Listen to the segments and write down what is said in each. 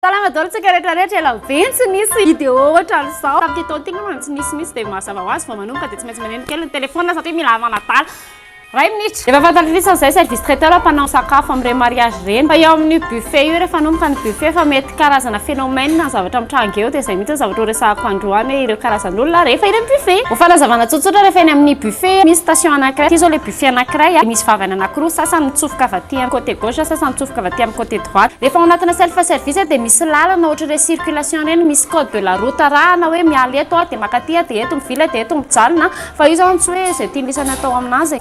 Salama daholo tsika rehetra rehetra, ela be tsy nisy vidéo ohatran'izao. Tamin'ity taona ity angamba no tsy nisy mihitsy dia mazava ho azy vao manomboka dia tsy maintsy maneno kely ny téléphone satria mila manadala iray minitra. Efa fantatr'isa izay service traiteur mpanao sakafo amin'ireny mariage ireny fa eo amin'io buffet io rehefa hanomboka ny buffet efa mety karazana phénomène ny zavatra mitranga eo dia izay mihitsy ny zavatra horesahako androany hoe ireo karazan'olona rehefa eny amin'ny buffet. Ho fanazavana tsotsotra rehefa eny amin'ny buffet misy station anankiray ity izao ilay sy anankiray dia misy vavany anankiroa, sasany mitsofoka avy aty amin'ny côté gauche, sasany mitsofoka avy aty amin'ny côté droite. Rehefa ao anatina self service dia misy lalana ohatra ireny circulation ireny, misy code de la route arahana hoe miala eto aho dia maka aty aho dia eto mivily dia eto mijanona fa io izany tsy hoe izay tian'ny lisany atao amin'azy e.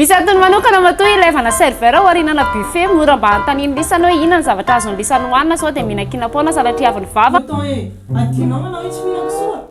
Misy antony manokana matoa ilaivana serveur ao arinana buffet mora mba hanontanian'ny lisany hoe inona ny zavatra azon'ny lisany hohanina sao dia mihinan-kina foana sanatria avy ny vava. Attends eh, adinao anao itsy mihinan-kisoa?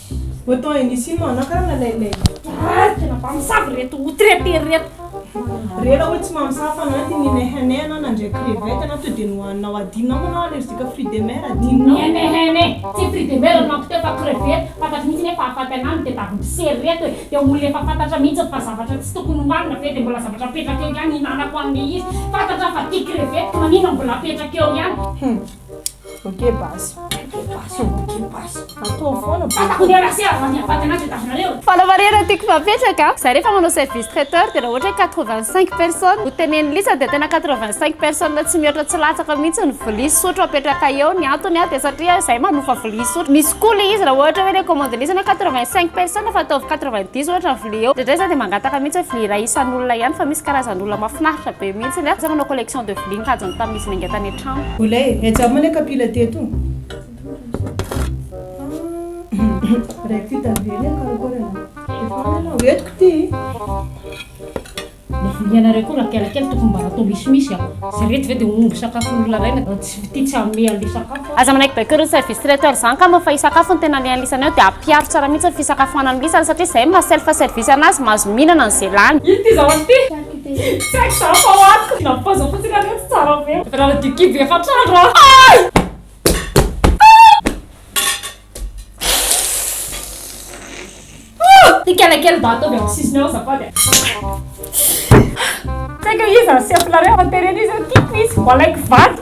Autant et ici no anakarana ilay ilay Toraly tena mpamosavy ireto outraités ireto. Rela hoe tsy mamosavy fa na ity ninehenehy anao nandray crevette anao to dia nohaninao adinonao moa anao allergique fruit de mer adinonao. Ninehenehy, tsy fruit de mer nohaniko teo fa crevette, fantatro mihitsy anie fa hahafaty anah ny tedavy mpisera ireto e, dia olona efa fantatra mihitsy fa zavatra tsy tokony hohanina ve dia mbola zavatra apetraka eo ihany hihinanako anle izy, fantatra aho fa tia crevette ka maninona mbola apetraka eo ihany. Bokeh basy. Bokeh basy ô, bokeh basy. Ataovy foana bokeh. Ataovy foana basy. Ataovy foana basy. Ataovy foana basy. Fala marina tiako mapetraka za refa manao service traiteur de ra ohatra hoe quatre vingt cinq personnes no teneniny isa de tena quatre vingt cinq personnes tsy mihoatra tsy latsaka mihitsy ny vilia sy sotro apetraka eo ny antony a de satria zay manofa vilia sy sotro misy koa le izy ra ohatra hoe le commande-ny isany hoe quatre vingt cinq personnes fa ataovy quatre vingt dix ohatra ny vilia eo ndraindray za de mangataka mihitsy hoe vilia iray isan'olona ihany fa misy karazan'olona mafinaritra be mihitsy ny a za manao collection de vilia nikajiny tamin'izy nainga tany trano. Olay, etsy aminy le kapila teto. Ray ty tavela e, karakôry anao? Efa any anao, entiko ty. Le vonianareo koa raha kely kely tokony mba atao misimisy a. Za reto ve de omby sakafon'olona ray na tsy ty tsy hanome anle sakafo a. Aza manaiky baiko ireo service traiteur zany ka mba fa hisakafo ny tena le anlisany ao de apiaro tsara mihitsy ny fisakafoanany lisany satria zay maha self service anazy mahazo mihinana ny ze lany. Ino ty zaho ato ty? Tsy haiko za fa ho ato. Nampipaoziny fotsiny anio tsy tsara be. Efa nanadio kibo efatra andro aho. Tikena kely mba ataovy amin'ny sisiny eo azafady a. Tsy haiko hoe iza no sefonareo fa terena izy eo tiako izy. Ho alaiko vady.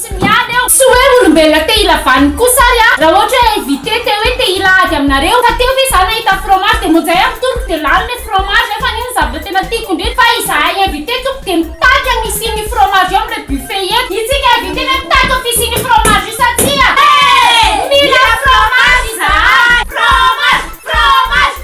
Tsy miady aho. Tsy hoe olombelona te hila vaniny kosa ary a! Raha ohatra hoe invité te hoe te hila ady aminareo, ka teo ve za nahita fromage de monjay aho mitory de lany le fromage nefa anie ny zavatra tena tiako indrindra fa izahay invité tompoko de mitaky amin'ny hisian'io fromage io amin'ilay buffet io eto, itsika invité ve mitaky amin'ny fisian'io fromage io sa tsia? Mila fromage izahay! Fromage! Fromage!